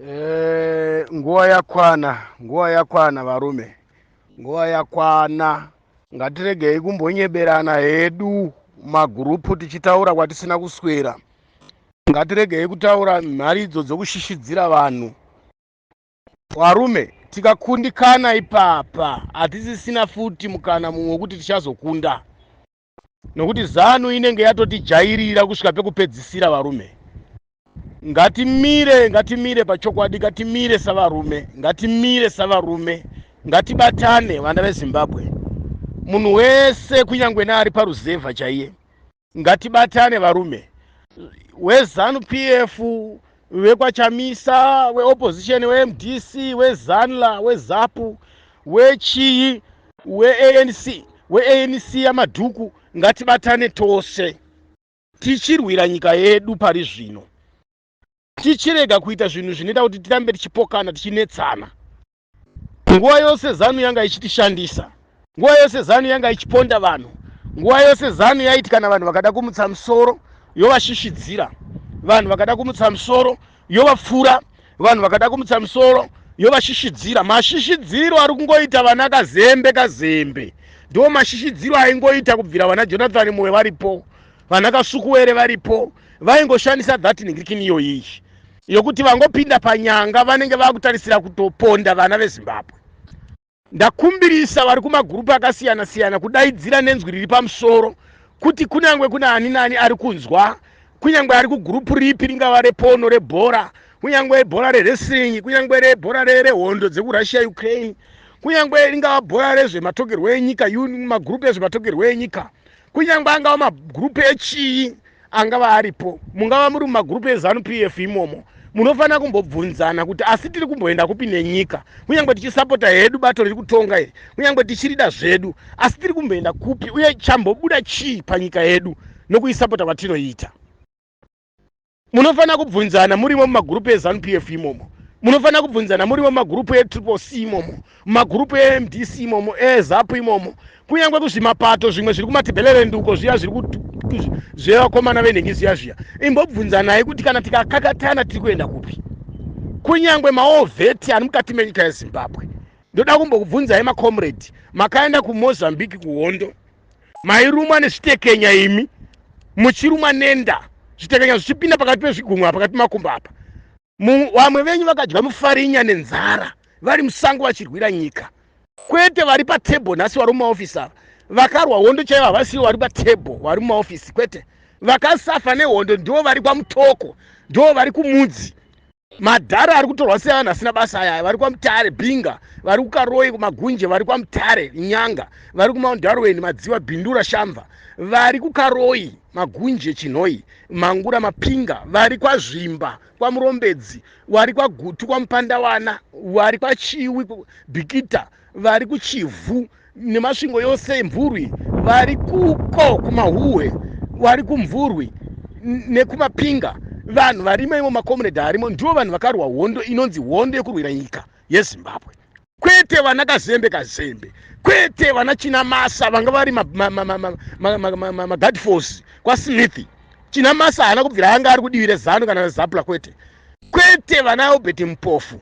Eh, nguva yakwana nguva yakwana varume nguva yakwana ngatiregei kumbonyeberana hedu magurupu tichitaura kwatisina kuswera ngatiregei kutaura mharidzo dzokushishidzira vanhu varume tikakundikana ipapa hatisisina futi mukana mumwe wekuti tichazokunda nokuti zanu inenge yatotijairira kusvika pekupedzisira varume ngatimire ngatimire pachokwadi ngatimire savarume ngatimire savarume ngatibatane vana vezimbabwe munhu wese kunyange neari paruzevha chaiye ngatibatane varume wezanu p f vekwaChamisa, weopposition, weMDC, weZanla, weZapu, wechiyi, weANC, weANC yamadhuku ngatibatane tose tichirwira nyika yedu pari zvino tichirega kuita zvinhu zvinoita kuti tirambe tichipokana tichinetsana nguva yose zanu yanga ichitishandisa nguva yose zanu yanga ichiponda vanhu nguva yose zanu yaiti kana vanhu vakada kumutsa musoro yovashishidzira vanhu vakada kumutsa musoro yovapfura vanhu vakada kumutsa musoro yovashishidzira mashishidziro ari kungoita vana kazembe kazembe ndiwo mashishidziro aingoita kubvira vana jonathani moyo varipo vana kasukuwere varipo vaingoshandisa that ningirikini iyoyiyi yokuti vangopinda panyanga vanenge vakutarisira kutoponda vana vezimbabwe ndakumbirisa vari kumagurupu akasiyana siyana kudaidzira nenzwi riri pamusoro kuti kunyange kune ani nani ari kunzwa kunyange ari kugurupu ripi ringava repono rebhora kunyange bhora rewrestling kunyange rebhora rehondo dzekurussia ukraine kunyange ringava bhora rezvematogerwo enyika magurupu ezvematogerwo enyika kunyangwe angava magrupu echii angava aripo mungava muri mumagrupu ezanu p f imomo munofanira kumbobvunzana kuti asi tiri kumboenda kupi nenyika kunyange tichisapota hedu bato riri kutonga iri kunyange tichirida zvedu asi tiri kumboenda kupi uye chambobuda chii panyika yedu nokuisapota kwatinoita munofanira kubvunzana murimo mumagurupu ezanup ef imomo munofanira kubvunzana murimo mumagurupu etriple c imomo mumagurupu emdc imomo ezapu imomo kunyange kuzvimapato zvimwe zviri kumatibhelerenduko zviya zviri zvevakomana venhengi zviya zviya imbobvunzanai kuti kana tikakakatana tiri kuenda kupi kunyange maovheti ari mukati menyika yezimbabwe ndoda kumbokubvunzai macomrade makaenda kumozambique kuhondo Mairumwa nezvitekenya imi muchirumwa nenda zvitekenya zvichipinda pakati pezvigunwe apa pakati pemakumbo apa vamwe venyu vakadya mufarinya nenzara vari musango vachirwira nyika kwete vari patable nhasi vari mumaofisi ava vakarwa hondo chaivo havasiwo vari patable vari mumaofisi kwete vakasafa nehondo ndivo vari kwamutoko ndivo vari kumudzi madhara ari kutorwa sei vanhu vasina basa aya vari kwamutare binga vari kukaroi kumagunje vari kwamutare nyanga vari kumount darwin madziva bindura shamva vari kukaroi magunje chinhoi mangura mapinga vari kwazvimba kwamurombedzi wari kwagutu kwamupandawana wari kwachiwi bikita vari kuchivhu nemasvingo yose emvurwi vari kuko kumahuhwe vari kumvurwi nekumapinga vanhu varimo imo makomunedhi arimo ndivo vanhu vakarwa hondo inonzi hondo yekurwira nyika yezimbabwe kwete vana kazembe kazembe kwete vana china masa vanga vari magad force kwasmith china masa haana kubvira anga ari kudivi rezano kana rezapula kwete kwete vana albert mpofu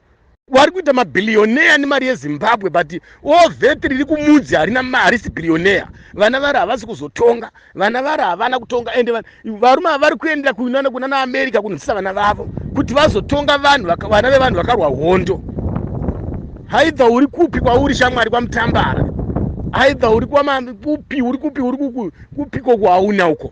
vari kuita mabhiliyoneya nemari yezimbabwe but all that riri kumudzi harina harisi bhiliyoneya vana vari havasi kuzotonga vana vari havana kutonga ende varume vari kuenda kunana kunana america kunzisa vana vavo kuti vazotonga vanhu vana vevanhu vakarwa hondo haidha uri kupi kwauri shamwari kwamutambara haidha uri kupi uri kupi uri kupiko kwauna uko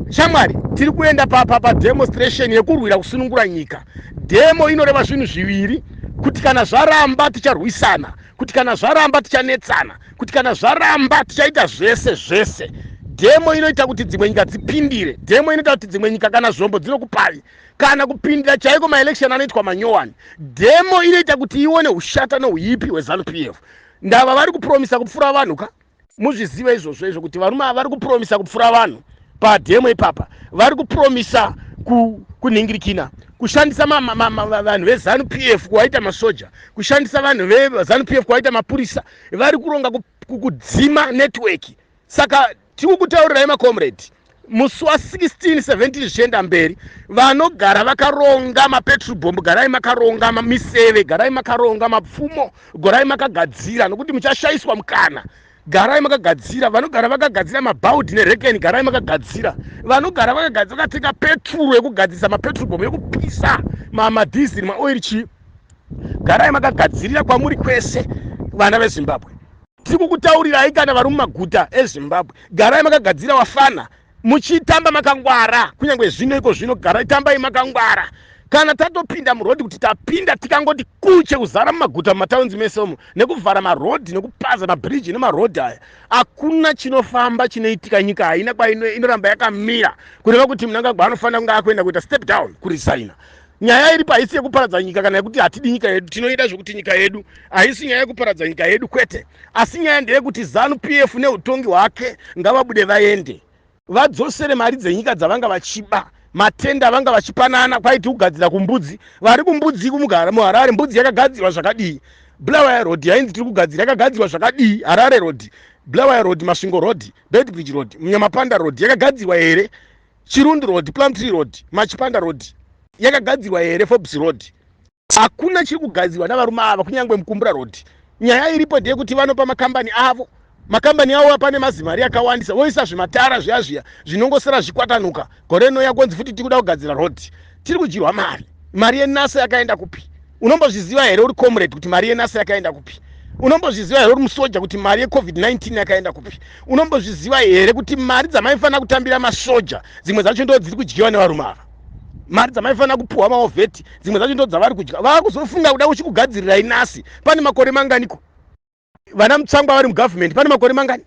shamwari tiri kuenda papa pademonstration yekurwira kusunungura nyika demo inoreva zvinhu zviviri kuti kana zvaramba ticharwisana kuti kana zvaramba tichanetsana kuti kana zvaramba tichaita zvese zvese demo inoita kuti dzimwe nyika dzipindire demo inoita kuti dzimwe nyika kana zvombo dzinokupavi kana kupindira chaiko maelection anoitwa manyowani demo inoita kuti ione ushata nouipi hwezanu p f ndava vari kupromisa kupfura vanhu ka muzvizive izvozvo izvo kuti varume ava vari kupromisa kupfura vanhu pademo ipapa vari kupromisa kunhingirikina kushandisa vanhu vezanu p f kuvaita masoja kushandisa vanhu vezanu p f kuvaita mapurisa vari kuronga kudzima netiweki saka tiri kutaurirai macomrade musi wa 16 17 zvichienda mberi vanogara vakaronga mapetrol bomb garai makaronga miseve garai makaronga mapfumo gorai makagadzira nokuti muchashaiswa mukana garai makagadzira vanogara vakagadzira mabaudi nerekeni garai makagadzira vanogara vakagadzira vakatenga petrol yekugadzirisa mapetrol bomb yekupisa mamadhiziri maoiri chii garai makagadzirira kwamuri kwese vana vezimbabwe Tirikukutaurirai kana vari mumaguta eZimbabwe garai makagadzira wafana muchitamba makangwara kunyange zvino iko zvino garai tambai makangwara kana tatopinda murodhi kuti tapinda tikangoti kuche kuzara mumaguta mumataunzi mese umo nekuvhara marodhi nekupaza mabhiriji nemarodhi aya hakuna chinofamba chinoitika nyika haina kwainoramba yakamira kureva kuti munangagwa anofanira kunge akuenda kuita step down kurisaina nyaya iripo haisi yekuparadza nyika kana yekuti hatidi nyika yedu tinoida zvekuti nyika yedu haisi nyaya yekuparadza nyika yedu kwete asi nyaya ndeyekuti zanu p f neutongi hwake ngavabude vaende vadzosere mari dzenyika dzavanga vachiba matenda avanga vachipanana kwaiti kugadzira kumbudzi vari kumbudzi kumugara muharare mbudzi yakagadzirwa zvakadii blawaya road yainzi tiri kugadzira yakagadzirwa zvakadii harare road blawaya road masvingo road bedbridge road munyamapanda road yakagadzirwa here Chirundi Road, Plumtree Road, Machipanda Road yakagadzirwa here Forbes Road? Hakuna chiri kugadzirwa navarume ava kunyangwe Mukumbura Road. Nyaya iripo ndeyekuti vanopa makambani avo makambani avo apane mazimari akawandisa voisa zvimatara zviya zviya zvinongosara zvikwatanuka gore rinouya konzi futi tiri kuda kugadzira road tiri kudyirwa mari mari yenasa yakaenda kupi unombozviziva here uri comrade kuti mari yenasa yakaenda kupi unombozviziva here uri musoja kuti mari yecovid-19 yakaenda kupi unombozviziva here kuti mari dzamaifanira kutambira masoja dzimwe dzacho ndo dziri kudyiwa nevarume ava mari dzamaifanira kupiwa maovheti dzimwe dzacho ndo dzavari kudya vava kuzofunga kuda uchikugadzirirai nasi pane makore manganiko vana mutsangwa vari mugovernment pane makore mangani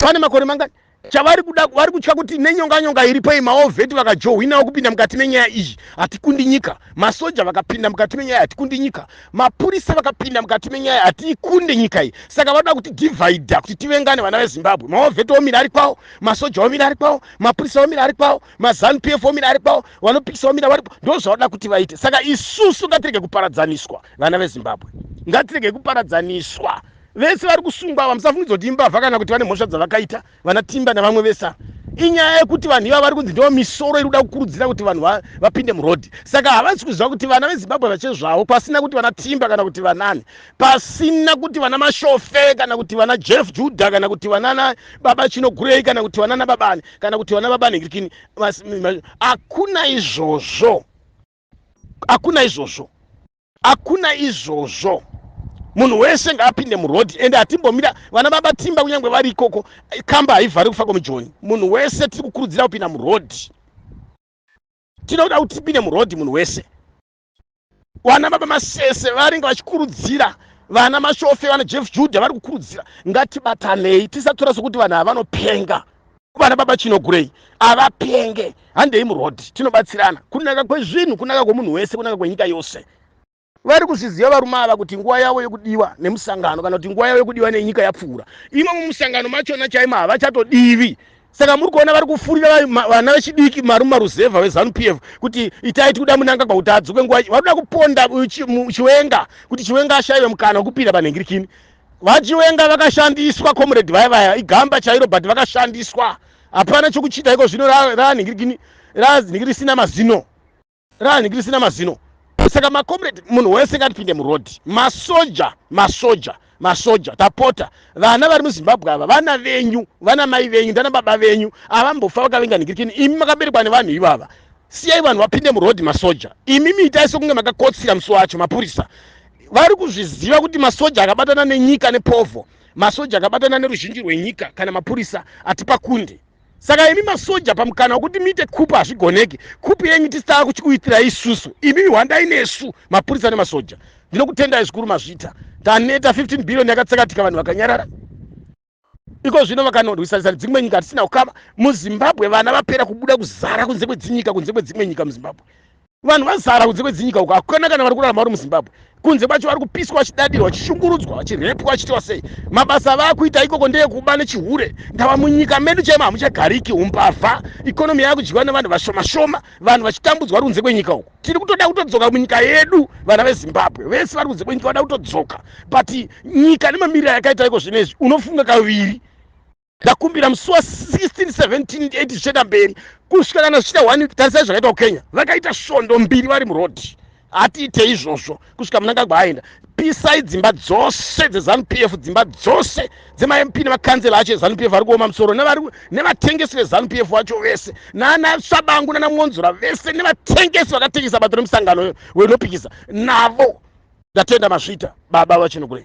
pane makore mangani chavari kuda vari kutya kuti nenyonganyonga iripo iyi maovheti vakajohwinawo kupinda mukati menyaya iyi hatikundi nyika masoja vakapinda mukati menyaya hatikundi nyika mapurisa vakapinda mukati menyaya hatiikunde nyika iyi saka vanoda kuti divhaidha kuti tivengane vana vezimbabwe maovheti omira ari kwawo masoja omira ari kwawo mapurisa omira ari kwawo mazanu p f omira ari kwawo vanopikisa omira varipo ndo zvavanoda kuti vaite saka isusu ngatirege kuparadzaniswa vana vezimbabwe ngatirege kuparadzaniswa Vese vari kusungwa ava musafungidzwa kuti imbavha kana kuti vane mhosva dzavakaita vana Timba navamwe vese ava. Inyaya yekuti vanhu ivava vari kunzi ndivo misoro iri kuda kukurudzira kuti vanhu vapinde murodhi. Saka havasi kuziva kuti vana veZimbabwe vachezvawo pasina kuti vana Timba kana kuti vanani. Pasina kuti vana Mashofe kana kuti vana Jeff Judah kana kuti vanana baba Chinogurei kana kuti vanana babani kana kuti vana baba Nhingirikini. Hakuna izvozvo. hakuna izvozvo hakuna izvozvo munhu wese ngaapinde muroad ende hatimbomira vana baba timba kunyange vari ikoko kamba haivhari kufa kwemujoni munhu wese tiri kukurudzira kupinda muroad tinoda kuti tipinde muroad munhu wese vana baba masese varinge vachikurudzira vana mashofe vana jeff juda vari kukurudzira ngatibatanei tisatora sokuti vanhu havanopenga vana baba chino gurei avapenge handei muroad tinobatsirana kunaka kwezvinhu kunaka kwemunhu wese kunaka kwenyika yose vari kuzviziva varume ava kuti nguva yavo yekudiwa nemusangano kana kuti nguva yavo yekudiwa nenyika yapfuura imomo musangano machona chaimo havachatodivi saka muri kuona vari kufurira vana vechidiki marume maruzevha vezanup f kuti itai tikuda munanga kwakuti adzoke nguva vanoda kuponda chiwenga kuti chiwenga ashaive mukana wekupinda panhengirikini VaChiwenga vakashandiswa comrade vaya vaya igamba chairo but vakashandiswa hapana chokuchita iko zvino ranhingirigini ranhingi risina mazino ranhingi risina mazino saka macomrade munhu wese ngatipinde muroad masoja masoja masoja tapota vana vari muzimbabwe ava vana venyu vana mai venyu ndana baba venyu avambofa vakavenga nhingirikini imi makaberekwa nevanhu ivava siyai vanhu vapinde muroad masoja imi miitai sokunge makakotsira musi wacho mapurisa vari kuzviziva kuti masoja akabatana nenyika nepovho masoja akabatana neruzhinji rwenyika kana mapurisa atipakundi saka imi masoja pamukana wekuti muite kupu hazvigoneki kupu yenyu tisitava kuchikuitira isusu imi hwandai nesu mapurisa nemasoja ndinokutendai zvikuru mazvita taneta 15 billion yakatsakatika vanhu vakanyarara iko zvino vakanorwisanisa nedzimwe nyika hatisina kukama muzimbabwe vana vapera kubuda kuzara kunze kwedzinyika kunze kwedzimwe nyika muzimbabwe vanhu vazara kunze kwedzinyika uko hakuna kana vari kurarama vari muzimbabwe kunze kwacho vari kupiswa vachidadirwa vachishungurudzwa vachirepwa vachitiwa sei mabasa avaakuita ikoko ndeyekuba nechihure ndava munyika medu chaimo hamuchagariki umbavha ikonomi yaakudyiwa nevanhu vashoma shoma vanhu vachitambudzwa vari kunze kwenyika uko tiri kutoda kutodzoka munyika yedu vana vezimbabwe vese vari kunze kwenyika vada kutodzoka but nyika nemamiriro yakaita iko zvino izvi unofunga kaviri ndakumbira musi wa 16 17 8 zvichaenda mberi kusvika kana zvichita one week tarisai zvakaita kukenya vakaita svondo mbiri vari murodhi hatiite izvozvo kusvika munangagwa aenda pisai dzimba dzose dzezanup f dzimba dzose dzemamp nemakansela acho ezanup f ari kuoma musoro nevatengesi vezanup f vacho vese naana sabangu nana mwonzora vese nevatengesi vakatengesa bato remusangano wenopikisa navo ndatenda mazvita baba vachinogurei